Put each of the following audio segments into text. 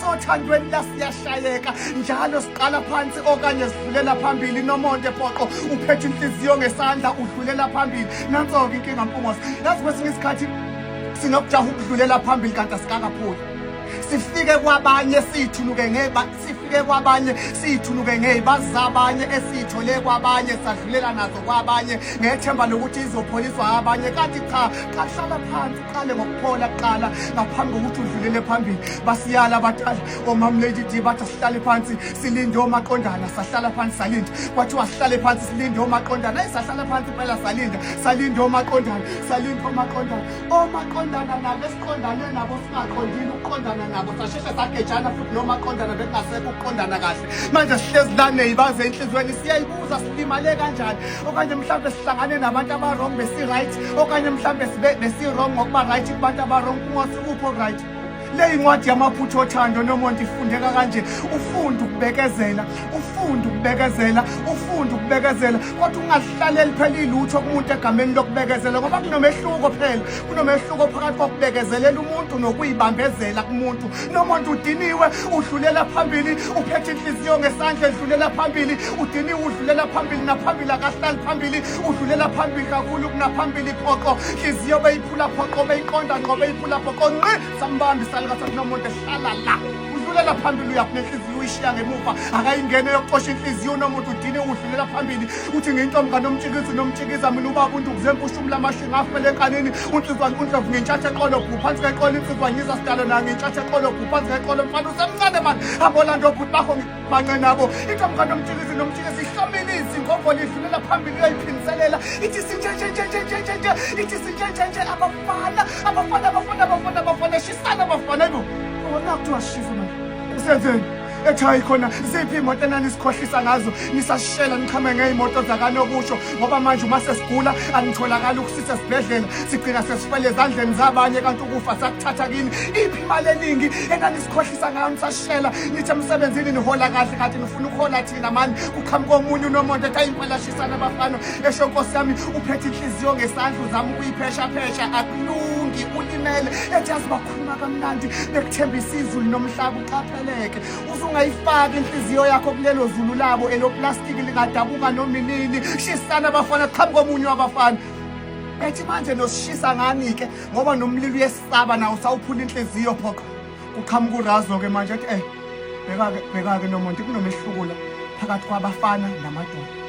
sothandweni la siyashayeka njalo siqala phansi okanye sidlulela phambili nomonde poqo uphethe inhliziyo ngesandla udlulela phambili nanso-ke inkinga mpungose yazi kwesinye isikhathi sinokujaha ukudlulela phambili kanti asikakaphuli sifike kwabanye siyithunuke ngeba sifike kwabanye siyithunuke ngey'bazi zabanye esiyithole kwabanye sadlulela nazo kwabanye ngethemba lokuthi izopholiswa abanye kanti cha qahlala phansi qale ngokuphola kuqala ngaphambi kokuthi udlulele phambili basiyala abadala omam lady d bathi asihlale phansi silinde omaqondana sahlala phansi salinda kwathiwa sihlale phansi silinde omaqondana ayi sahlala phansi impela salinda salinde omaqondana salinde omaqondana omaqondana nabo esiqondane nabo singaqondile ukuqondana nabo sasheshe sagejana futhi nomaqondana bekungasekho ukuqondana kahle manje sihlezi lane yibaze enhliziyweni siyayibuza silimale kanjani okanye mhlawumbe sihlangane nabantu abarong besi-right okanye mhlawumbe besi-wrong ngokuba-right kubantu abarong kungosi upho right le incwadi yamaphutha othando noma ndifundeka kanje ufunde ukubekezela ufunde ukubekezela ufunde ukubekezela kodwa ungahlaleli phela ilutho kumuntu egameni lokubekezela ngoba kunomehluko phela kunomehluko phakathi kokubekezelela umuntu nokuyibambezela kumuntu nomuntu udiniwe udlulela phambili uphethe inhliziyo ngesandla edlulela phambili udiniwe udlulela phambili naphambili akahlali phambili udlulela phambili kakhulu kunaphambili phoqo inhliziyo beyiphula phoqo beyiqonda ngqo beyiphula phoqo nqi sambambi salikasathi nomuntu ehlala la udlulela phambili uyaphula inhliziyo uyishiya ngemuva akayingene yokuxosha inhliziyo unomuntu udine udlulela phambili uthi ngintomngane omtshikizi nomtshikiza mina ubaba undukuze mpushumla amashinga afele enkanini Unsizwa uNdlovu ngentshatha eqolo bhu phansi kweqolo insizwa ngiza sidalo nayo ngentshatha eqolo bhu phansi kweqolo mfana usemncane mani abolanda obhuti bakho ngibance nabo intombukane omjikisi nomjikisi ihlomile izingogo lidlulela phambili uyoyiphiniselela ithi sinjenjenjenjenjenjenje ithi sinjenjenje abafana abafana abafana abafana abafana shisana abafana ibo bona kuthiwa shisa mani usenzeni ethi hayi khona ziphi imoto enanisihlohlisa ngazo nisashela niqhame ngeyimoto zakanokusho ngoba manje uma sesigula anitholakali ukusisa esibhedlela sigcina sesifele ezandleni zabanye kanti ukufa sakuthatha kini iphi imali eningi enanisihlohlisa ngayo nisashela nithe emsebenzini nihola kahle kanti nifuna ukuhola thina mani kuqhamuka omunye unomonto ethi ayimpelashisana abafana esho nkosi yami uphethe inhliziyo ngesandla uzama ukuyipheshaphesha akulungi ulimele ethi azibakhuluma kamnandi bekuthembisa izulu nomhlaba uqaphe Leke usungayifaki inhliziyo yakho kulelo zulu labo eloplastiki lingadabuka noma inini shisana abafana qhamu komunye wabafana ethi manje nosishisa ngani-ke ngoba nomlilo uyesaba nawo sawuphula inhliziyo phoqa kuqhamuka urazo-ke manje ethi eh bheka-ke bheka-ke nomonti kunomehluko la phakathi kwabafana namadoda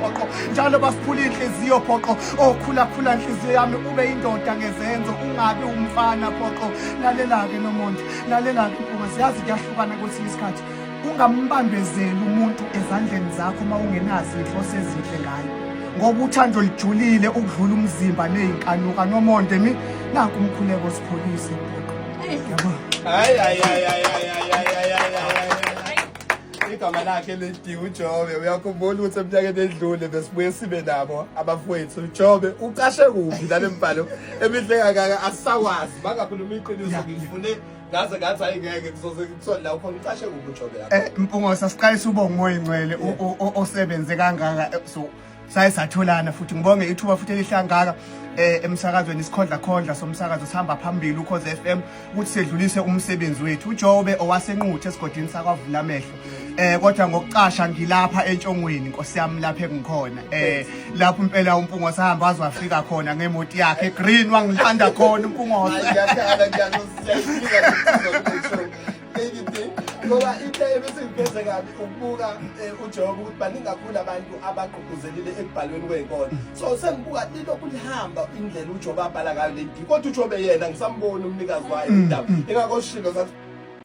phoqo njalo basiphula inhliziyo phoqo okhulakhula oh, inhliziyo yami ube indoda ngezenzo ungabi umfana phoqo lalelake nomonde lalelake mpunga siyazi kuyahlukana kwesinye isikhathi ungambambezeli umuntu ezandleni zakho uma ungenazi inhloso ezinhle ngayo ngoba uthando lijulile ukudlula umzimba nezinkanuka nomonde mi naku umkhuleko sipholise phoqo yabo hayi hayi hayi hayi igama lakhe lidi ujobe uyakhumbula ukuthi emnyakeni edlule besibuye sibe nabo abafowethu ujobe ucashe kuphi lale mbhalo emihle kangaka asisakwazi bangakhuluma iqiniso ngifune ngaze ngathi hayi ngeke kuzoze kuthole la ukhona ucashe kuphi ujobe lapho Eh, Mpungo sasiqalisa ubonga umoya ingcwele o- o- o- osebenze kangaka eh, so saye satholana futhi ngibonge ithuba futhi elihlangaka eh emsakazweni isikhondla khondla somsakazo sihamba phambili ukhoze FM ukuthi sedlulise umsebenzi wethu uJobe owasenquthe esigodini sakwavula amehlo eh kodwa ngokucasha ngilapha entshongweni inkosi yami lapha engikhona eh lapho impela umpungo sahamba wazwafika khona ngemoti yakhe green wangilanda khona umpungo ngiyakhala ngiyakuzisiyafika ngoba into ebisingiphethe kabi ukubuka eh, uJehova ukuthi baningi kakhulu abantu abagqugquzelile ekubhalweni kwenkolo so sengibuka lilokhu lihamba indlela uJehova abhala ngayo le kodwa uJehova yena ngisamboni umnikazi wayo mm, indaba mm. ingakho shilo